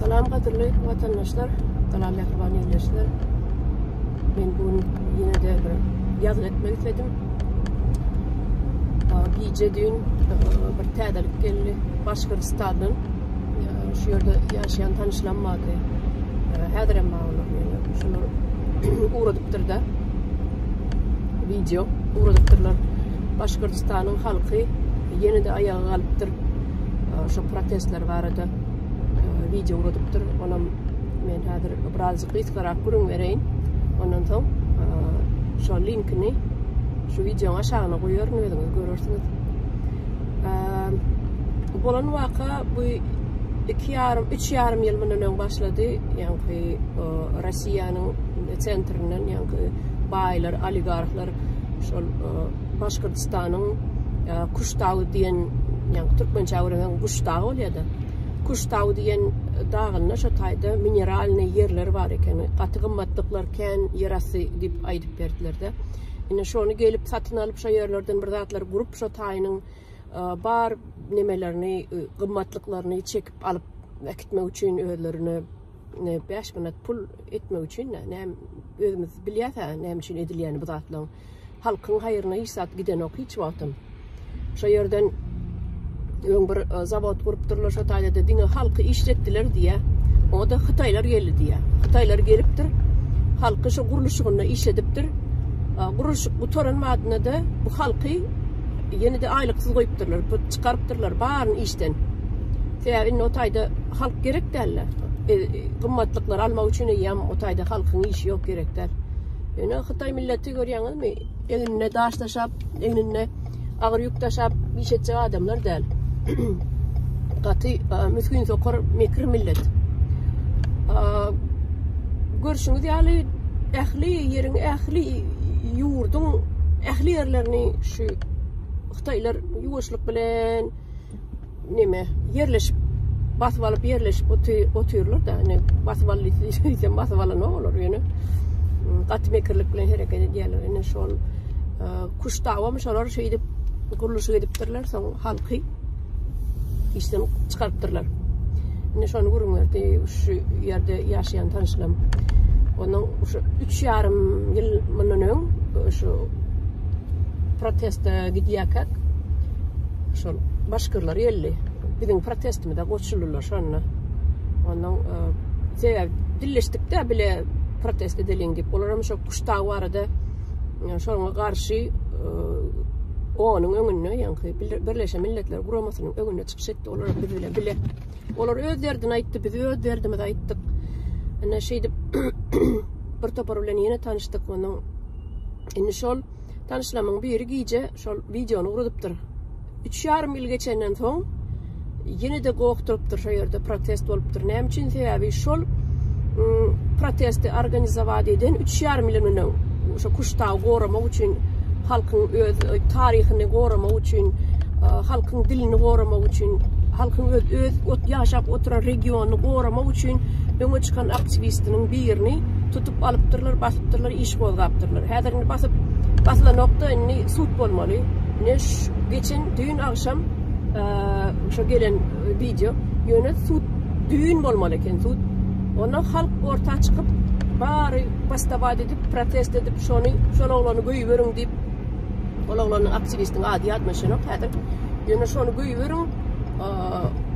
Salam gadyrly watandaşlar, salam mähriban ýerleşler. Men bu gün ýene de bir ýazgy etmek isledim. Gije düýn bir täzelik geldi Başgyrstandan. Şu ýerde ýaşaýan tanyşlam bardy. Häzir hem bar olar. Şular ugradypdyr da. Video ugradypdyrlar. Başgyrstanyň halky ýene de aýaga galypdyr. şu protestler barada e, video ugradypdyr. Onam men häzir birazjyk gysgarak gürüň bereýin. Ondan soň e, şu linkini şu videoň aşagyna goýaryn özüňiz görersiňiz. E, bolan waka bu 2 ýarym 3 ýarym ýyl mundan öň başlady. Ýagny Russiýanyň sentrinden ýagny baýlar, oligarhlar şol Başgyrtystanyň Kuş dagy diýen, ýa-da türkmençe öwrenen Guş dagy bolýar-da. Kuş dagy diýen dagynda şo taýda mineralnyý ýerler bar ekeni. Gaty gymmatlyklar kän ýerasty diýip aýdyp berdiler-de. Indi şony gelip satyn alyp şo ýerlerden bir zatlar gurup şo taýynyň bar nemelerini, gymmatlyklaryny çekip alyp äkitmek üçin özlerine bäş manat pul etmek üçin-de. Näme özümiz bilýäs-ä näme üçin edilýänini bu zatlaryň. halkyň haýryna hiç zat gidenok hiç wagtam. Şo ýerden öň bir e, zawod gurupdyrlar şo taýda diňe halky işletdiler diýä. O da Hytaýlar geldi diýä. Hytaýlar gelipdir. Halky şu gurluşygynda işledipdir. Gurluşyk gutaran wagtynda da bu halky ýene de aýlyksyz goýupdyrlar, çykarypdyrlar baryny işden. Sebäbi indi o taýda halk gerek däldi. E, gymmatlyklar almak üçin eýýäm o taýda halkyň işi ýok gerek däl. Ýöne Hytaý milleti görýäňizmi? Egninde daş daşap, egninde agyr ýük daşap iş etjek adamlar däl. Gaty müsgün sokar mekir millet. Görşüňiz ýaly ähli ýeriň, ähli ýurduň ähli ýerlerini şu Hytaýlar ýuwaşlyk bilen Neme ýerleşip basyp alyp ýerleşip otyrlar da ine basyp aldy diýsem basyp alanok olar ýöne gaty mekirlik bilen hereket edýärler ine şol e, kuşdawam şolar şeýdip gurluşyk edipdirler soň halky işden çykarypdyrlar ine şony gurunberdi şu ýerde ýaşaýan tanşym onuň şu üç ýarym ýyl mundan öň şu proteste gidýärkäk şol başgyrlar geldi. Biziň protestimize goşuldylar şonda. Ondan e, sebäbi dilleşdikde bile protest edeliň diýip, olar hem şol kuşta barada e, şoňa garşy e, onuň öňünde, ýaňky Birleşen Milletler Guramasynyň öňünde çykyş etdi, olar biz bilen bile. Olar öz derdini aýtdy, biz öz derdimizi aýtdyk. Ine şeýdip bir topar bilen ýene tanyşdyk, onuň indi şol Tanyşlamyň biri gije şol videony ugradypdyr. 3,5 ýyl geçenden soň ýene-de gokdurypdyr şo ýerde protest bolupdyr. Näme üçin? Sebäbi şol ıı, protesti organizowat eden 3,5 ýyl öňden şo kuşdagy goramak üçin halkyň öz e, taryhyny goramak üçin, e, halkyň dilini goramak üçin, halkyň öz öz ot ýaşap oturan regionyny goramak üçin öňe çykan aktiwistiniň birini tutup alypdyrlar basypdyrlar iş gozgapdyrlar häzir indi basyp basylanokda indi sud bolmaly ine geçen düýn agşam şu gelen wideo ýöne sud düýn bolmaly eken sud onda halk orta çykyp bary bastabat edip protest edip şony şol oglany göýberiň diýip ol oglanyň aktiwistiň ady ýadyma düşenok häzir ýöne şony göýberiň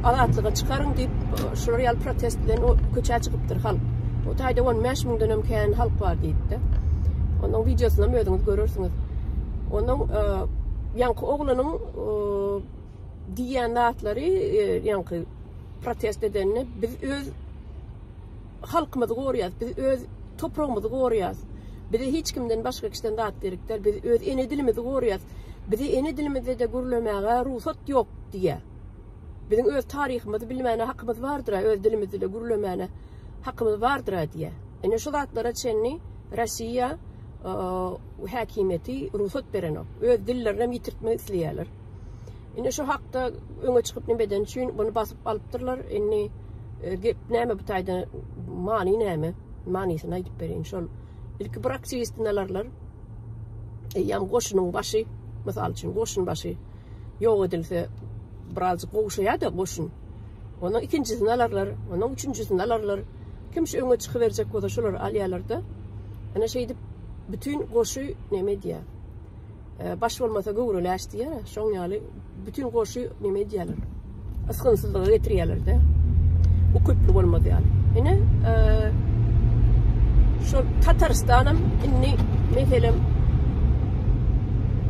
azatlyga çykaryň diýip şular ýaly protest bilen köçä çykyp diýipdir halk. Bu taýda 15 müňden hem kän halk bar diýipdi. Onuň wideosyny hem özüňiz görersiňiz. Onuň e, ýaňky oglanyň e, diýýän zatlary e, ýaňky protest edenini biz öz halkymyzy goraýas, biz öz topragymyzy goraýas. Bize hiç kimden başga kişiden zat gerekdir. Biz öz ene dilimizi goraýas. Bize ene dilimizde de gürlemäge rugsat ýok diýýär. Biziň öz taryhymyzy bilmäne hakymyz bardyr-a, öz dilimizde gürlemäne hakymyz bardyr-a diýýä. Ine şu zatlara çenli Rossiýa häkimiýeti rugsat berenok. Öz dillerinem ýitirtmek isleýärler. Indi şu hakda öňe çykyp nime eden üçin bunu basyp alypdyrlar. Indi e, gep näme bu taýda many näme? Manysyny aýdyp berin. Şol ilki bir aktiwistini alarlar. Eýýäm goşunyň başy, mysal üçin goşun başy ýok edilse birazjyk gowşaýada goşun. Onuň ikinjisini alarlar, onuň üçünjisini alarlar. Kim şu öňe çykyberjek bolsa şolary alýarlarda. Ana şeýdip bütün goşy neme diýýär? E, baş bolmasa göwreleş diýýär. Şoň ýaly bütün goşy neme diýýärler? Isgynsyzlyga getirýärlerde. Ukyply bolmaz ýaly. Ine, e, şol Tatarstanam indi meselem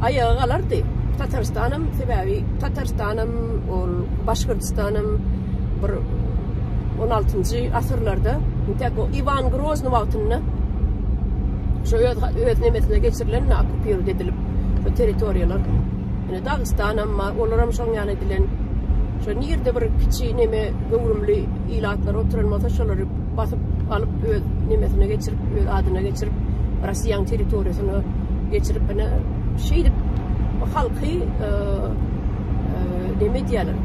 aýaga galardy. Tatarstanam sebäbi Tatarstanam ol Başgyrdystanam bir 16-njy asyrlarda täk o Iwan Grozny wagtynda şu öz öz nemesine geçirilen okupiruj edilip bu territoriýalar Dagystanam bar, olaram şoň ýaly edilen. Şo nirde bir kiçi neme göwrümli ilatlary oturan bolsa şolary basyp alyp öz nemesine geçirip, öz adyna geçirip, Russiýanyň territoriýasyna geçirip, ine şeýdip halky e, e, neme edýärler.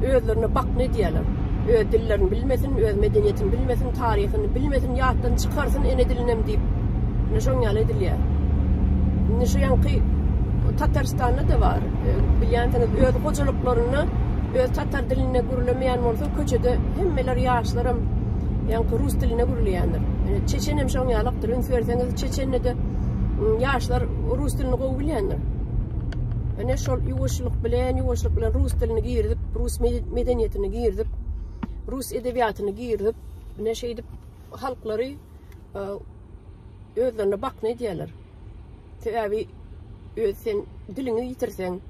özlerine bakna edýärler. Öz dillerini bilmesin, öz medeniýetini bilmesin, taryhyny bilmesin, ýatdan çykarsyn ene dilinem diýip. Ine şoň ýaly edilýär. Indi şu ýanky Tatarstanda da bar. E, Bilýänsiňiz, öz hojalyklarynda öz tatar dilinde gürlemeýän bolsa, köçede hemmeler ýaşlaram ýanky rus dilinde gürleýändir. E, Çeçenem şoň ýalakdyr. Üns berseňiz, Çeçende de ýaşlar rus dilini gowy bilýändir. Ene şol ýuwaşlyk bilen, ýuwaşlyk bilen rus dilini girdip, rus medeniýetini girdip, rus edebiýatyny girdip, ene şeýdip halklary e, özlerine bakna edýärler. Sebäbi öz sen diliňi ýitirseň,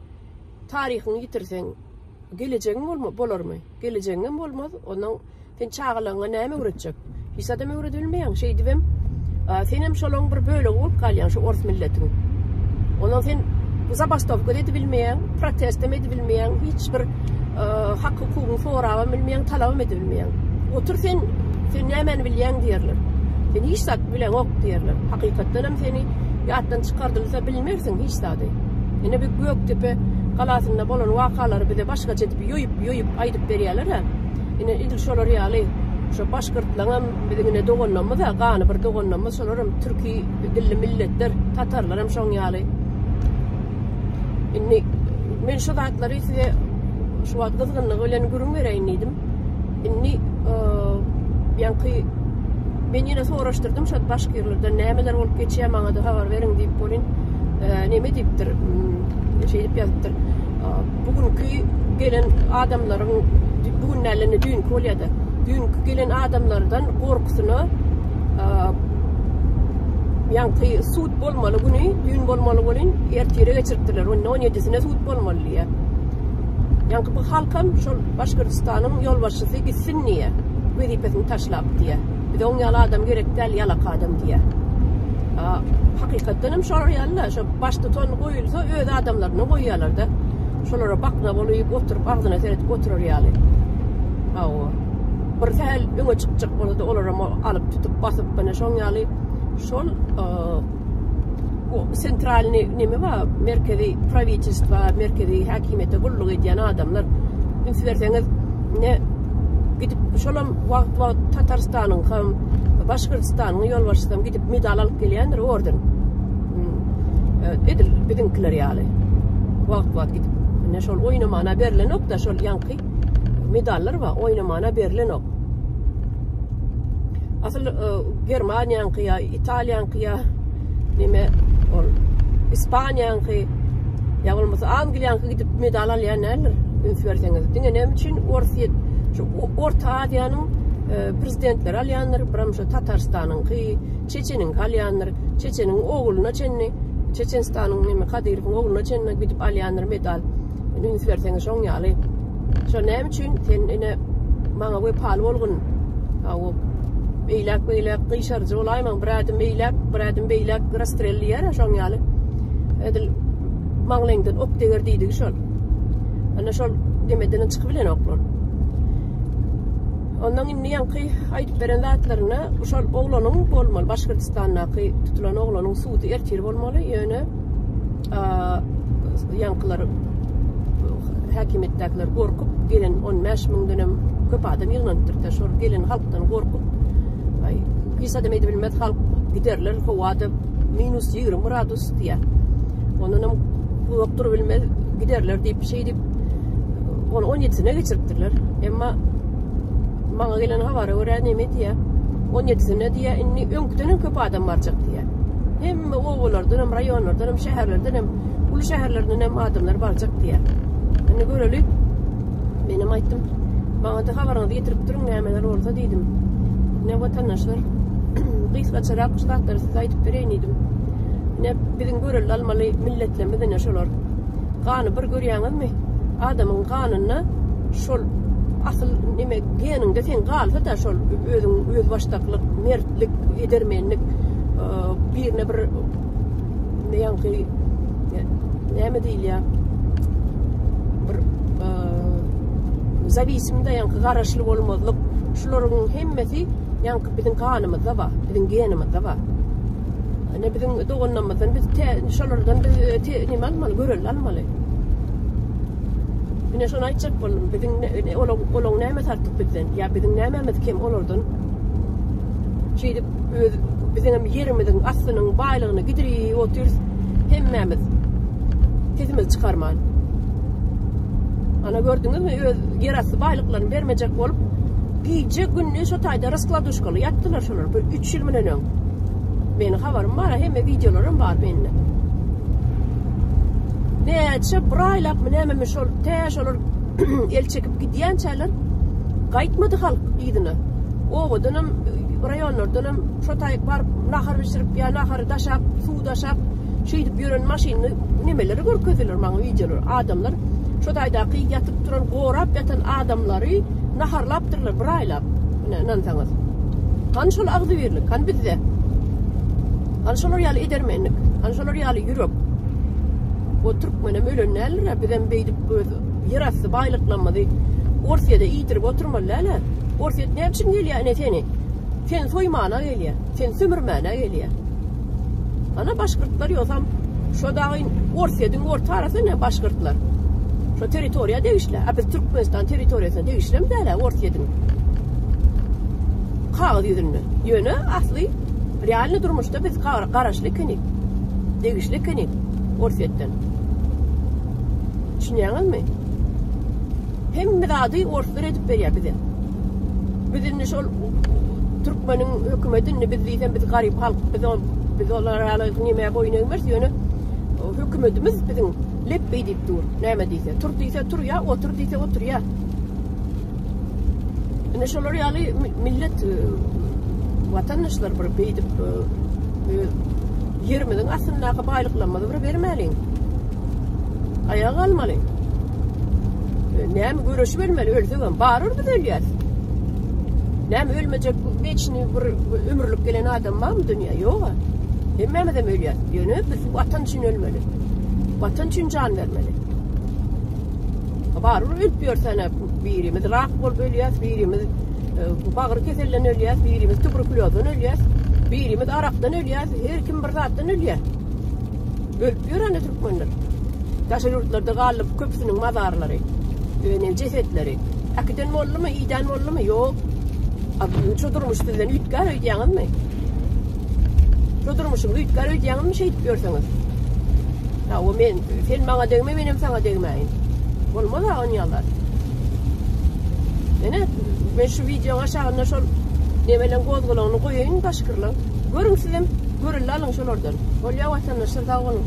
taryhyňy ýitirseň, Gelejegiň bolma, bolarmy? Gelejegiňem bolmaz. Ondan sen çagalaryňa näme öwretjek? Hiç adam öwredebilmeýäň. Şeýdibem, senem şolaň bir bölegi bolup galýaň şu ors milletiň. Ondan sen zabastowka edip bilmeýäň, protestem edip bilmeýäň, hiç bir hak hukugyň sorabam bilmeýäň, talabam edip bilmeýäň. Otur sen, sen nämäni bilýäň diýerler. Sen hiç zat bileňok diýerler. Hakykatdanam seni ýatdan çykardylsa bil Mersin hiç zady. Ine bu Gökdepe galasynda bolan wakalary bize başgaça edip ýoýup ýoýup aýdyp berýäler a. Ine edil şolar ýaly şo başgyrtlaňam biziň ine doganlamyz a gany bir doganlamyz şolaram türki dilli milletler tatarlaram şoň ýaly. Indi men şo zatlary size şu wagt gyzgynlygy bilen gürüň bereýin diýdim. Indi ýaňky men ýene soraşdyrdym şo başgirlerden nämeler bolup geçýär maňa da habar beriň diýip bolin neme diýipdir şeýdip ýazypdyr bu günki gelen adamlaryň bu gün nälerini düýnki bolýardy düýnki gelen adamlardan gorkusyna ýaňky sud bolmaly güni düýn bolmaly bolin ertire geçiripdirler onda on ýedisine sud bolmaly diýýär Ýaňky bu halkam şol Başkyrtystanyň ýolbaşçysy gitsin diýýä. Wezipesini taşlap diýýä. Bize oň ýaly adam gerek däl, ýalak adam diýýä. A, hakykatdan hem şolar ýaly-da, şo baştutan goýulsa öz adamlaryny goýýarlar-da. Şolara bakna bolup oturyp, agzyna seredip oturar ýaly. Hawa. Bir sähel öňe çykjak bolsa-da, olar hem alyp tutup, basyp, ine şoň ýaly şol, O sentralny neme bar, merkezi prawitelstwa, merkezi häkimiýete gulluk edýän adamlar. Üns berseňiz, ne gidip şolam wagt wagt Tatarstanyň hem Başgyrtystanyň ýolbaşçysam gidip medal alyp gelýändir orden. Edil biziňkiler ýaly. Wagt wagt gidip. Ne şol oýnamana berlenok da şol ýanky medallar bar, oýnamana berlenok. Asyl Germaniýanyňky ýa Italiýaňky ýa neme ol Ispaniýaňky ýa bolmasa Angliýaňky gidip medal alýan däldir. Üns berseňiz. Diňe näme üçin Orsýet şu Orta Aziýanyň e, prezidentleri alýandyr, biram şu Tatarstanyňky, Çeçeniňki alýandyr. Çeçeniň ogluna çenli, Çeçenstanyň neme Kadyrowyň ogluna çenli gidip alýandyr medal. üns berseň şoň ýaly. Şo näme üçin sen ine maňa wepaly bolgun. Aw. Beýläk beýläk gyşarjy bolaýmaň. Bir adam beýläk, bir adam beýläk rastrelliýär şoň ýaly. Edil maňlaýyňdan ok deger diýdigi şol. Ana şol demeden çykyp bilen oklar. Ondan indi ýaňky aýdyp beren zatlaryna şol oglanyň bolmaly, Başgyrtystandaky tutulan oglanyň sudy ertir bolmaly, ýöne ýaňkylar häkimiýetdäkiler gorkup gelen on bäş müňden hem köp adam ýygnanypdyr da şol gelen halkdan gorkup hiç adam edip bilmez halk giderler howada minus ýigrimi gradus diýär ondan hem uzak durup bilmez giderler diýip bir şey diýip onu on ýedisine geçiripdirler emma maňa gelen habara görä neme diýär on ýedisine diýär indi öňküden hem köp adam barjak diýär Hemme obalardan hem, raýonlardan hem, şäherlerden hem, uly şäherlerden hem adamlar barjak diýýär. Indi göreli. Men hem aýtdym. Maňa-da habaryňyzy getirip duruň, nämeler bolsa diýdim. Ne watandaşlar, gysgaçarak şu zatlary size aýdyp bereýin diýdim. Ne biziň görelde almaly milletlerimiz ine şolar. Gany bir görýäňizmi? Adamyň ganynda şol asyl nime geniňde sen galsa-da şol özüň özbaşdaklyk, mert lik edermenlik birine bir ýaňky näme diýilýär bir zawisimde ýaňky garaşly bolmazlyk şularyň hemmesi ýaňky biziň ganymyzda bar biziň genimizde bar ine biziň doganlarymyzdan biz şolardan biz nima almaly görelde almaly Ine şony aýtjak boldum, biziň olaň olaň näme tartyp bizden? Ýa biziň nämemiz kem olardan? Şeýdip öz biziň hem ýerimiziň aslynyň baýlygyny gidirip otyrys hemmämiz. Sesimizi çykarman. Ana gördüňizmi öz ýer asty baýlyklaryny bermejek bolup gije günni şu taýda raskladuşkaly ýatdylar şolar bir 3 ýyl menen öň. Meniň habarym bar, hemme wideolaram bar mende. Näçe bir aýlap mı näme şol tä şolar el çekip gidýänçäler gaýtmady halk yzyna. Obadanam, raýonlardanam şo taýyk baryp nahar bişirip ýa nahary daşap, suw daşap, şeýdip ýören maşynly nemeleri görkezdiler maňa wideolar. Adamlar şo taýdaky ýatyp turan, gorap ýatan adamlary naharlapdyrlar bir aýlap. Ine, ynansaňyz. Han şol agzybirlik, han bizde. Han şolar ýaly edermenlik, han şolar ýaly ýürek. O türkmenem ölen däldir-ä, bizem beýdip öz Ýerasty baýlyklamyzy Orsýede iýdirip oturmaly däl-ä. Orsýet näme üçin gelýär ine seni? Seni soýmana gelýär. Seni sömürmäne gelýär. Ana başgyrtlar ýogsam şo dagy Orsýediň orta arasy ne başgyrtlar. Şo territoriýa degişli. A biz Türkmenistan territoriýasyna degişlimi däl-ä Orsýediň? Kagyz ýüzünde. Ýöne asly realny durmuşda biz garaşly ekenik. Degişli ekenik Orsýetden. Düşünýäňizmi? Hemme zady orslar edip berýär bize. Biz indi şol türkmeniň hökümeti indi biz diýsem biz garyp halk biz ol biz olara ýaly näme boýun egmeris ýöne hökümetimiz biziň lepbeý diýip dur. Näme diýse, tur diýse tur ýa, otur diýse otur ýa. Ine şolar ýaly millet e, watandaşlar bir beýdip e, e, ýerimiziň astyndaky baýlyklarymyzy bir bermäliň. Aýaga galmaly. Näme göreşip ölmeli, ölsek hem barur biz ölýäs. Näme ölmejek geçini bir ömürlik gelen adam barmy dünýä? Ýok. Hemmämiz hem ölýäs. Ýöne biz watan üçin ölmeli. Watan üçin jan bermeli. Barybir ölüp ýörsene birimiz rak bolup ölýäs, birimiz e, bagyr keselinden ölýäs, birimiz tuberkulyozdan ölýäs, birimiz arakdan ölýäs, her kim bir zatdan ölýär. Ölüp ýörene türkmenler. Daşa ýurtlarda galyp köpüsiniň mazarlary, öne cesetleri. Akiden bolly mi, iden bolly mi? Ýok. Abi şu durmuş bizden üýtgär öýdýäňizmi? Şu durmuşum üýtgär öýdýäňizmi şeýdip ýörseňiz? Hawa men sen maňa degme menem saňa degmäýin. Bolmaz ha on ýallar. Ene men şu wideoň aşagynda şol nebelen gozgalaňyny goýaýyn başkyrlaň. Görüň sizem görüldi alyň şolardan. Bolýa watandaşlar sag boluň.